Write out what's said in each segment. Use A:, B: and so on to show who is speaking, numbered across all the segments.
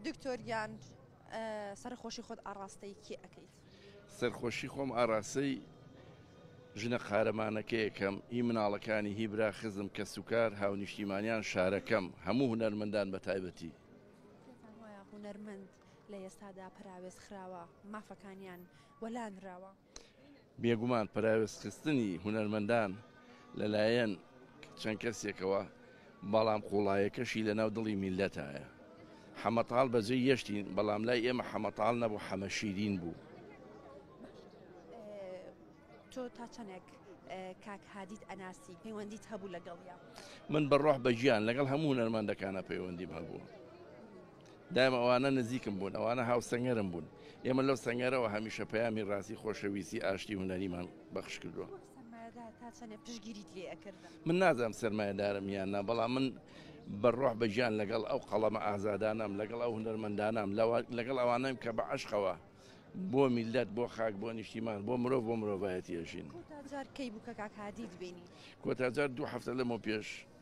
A: دکتۆر گیان سەرخۆشی خۆت ئاڕاستەی کێ ئەەکەیت سەرخۆشی
B: خۆم ئاراستەی ژنە قارەمانەکەیەکەم هی مناڵەکانی هی برا خزم کە سوکار هاونیشتیمانیان شارەکەم هەموو هونەرمەندان بە تایبەتی
A: هونەرمەند لە ئێستادا پراوێز خراوە مافەکانیان وەلانراوە بێگومان
B: پەراوێزخستنی هونەرمەندان لەلایەن چەند کەسێکەوە، بەڵام قوڵایەکەشی لەناو دڵی میللەتایە. حەمەتاڵ بەجێی یەشتین، بەڵام لای ئێمە حەمەتاڵ نەبوو، حەمەشیرین بوو.
A: تۆ تا چەندێک کاک هادیت ئەناسی، پەیوەندیت هەبوو لەگەڵیا؟ من بە ڕۆح
B: بە گیان لەگەڵ هەموو هونەرمەندەکانا پەیوەندیم هەبووە. دایم ئەوانە نزیکم بوون، ئەوانە هاوسەنگەرم بوون، ئێمە لەو سەنگەرەوە هەمیشە پەیامی ڕاستی، خۆشەویستی، ئاشتی هونەریمان بەخش کردووە. وەک سەرمایەدار تا چەندێ پشتگیریت لێ ئەکردن؟ من نازانم سەرمایەدارم یان نا، بەڵام من بە ڕۆح بە گیان لەگەڵ ئەو قەڵەمە ئازادانەم، لەگەڵ ئەو هونەرمەندانەم، لەگەڵ ئەوانەم کە بە عەشقەوە بۆ میللەت، بۆ خاک، بۆ نیشتیمان، بۆ مرۆڤ، بۆ مرۆڤایەتی ئەژین. کۆتا جار کەی بوو کە
A: کاک هادیت بینی؟ کۆتا جار دوو
B: هەفتە لەمەو پێش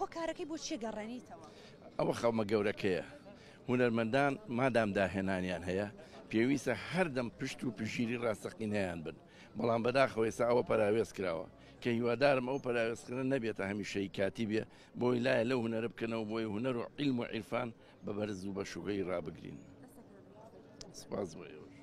A: هۆکارەکەی بۆ چیە گەڕێنیتەوە؟ ئەوە خەمە
B: گەورەکەیە. هونەرمەندان مادام داهێنانیان هەیە، پێویستە هەردەم پشت و پشگیری ڕاستەقینەیان بن، بەڵام بەداخەوە ئێستا ئەوە پەراوێز کراوە، کە هیوادارم ئەو پەراوێزخرنە نەبێتە هەمیشەیی کاتی بێ، بۆی لایە لەو هونەرە بکەنەوە بۆی هونەر و عیلم و عیرفان بە بەرز و بە شوکەیی ڕابگرین. سپاس بۆ ئێوەش.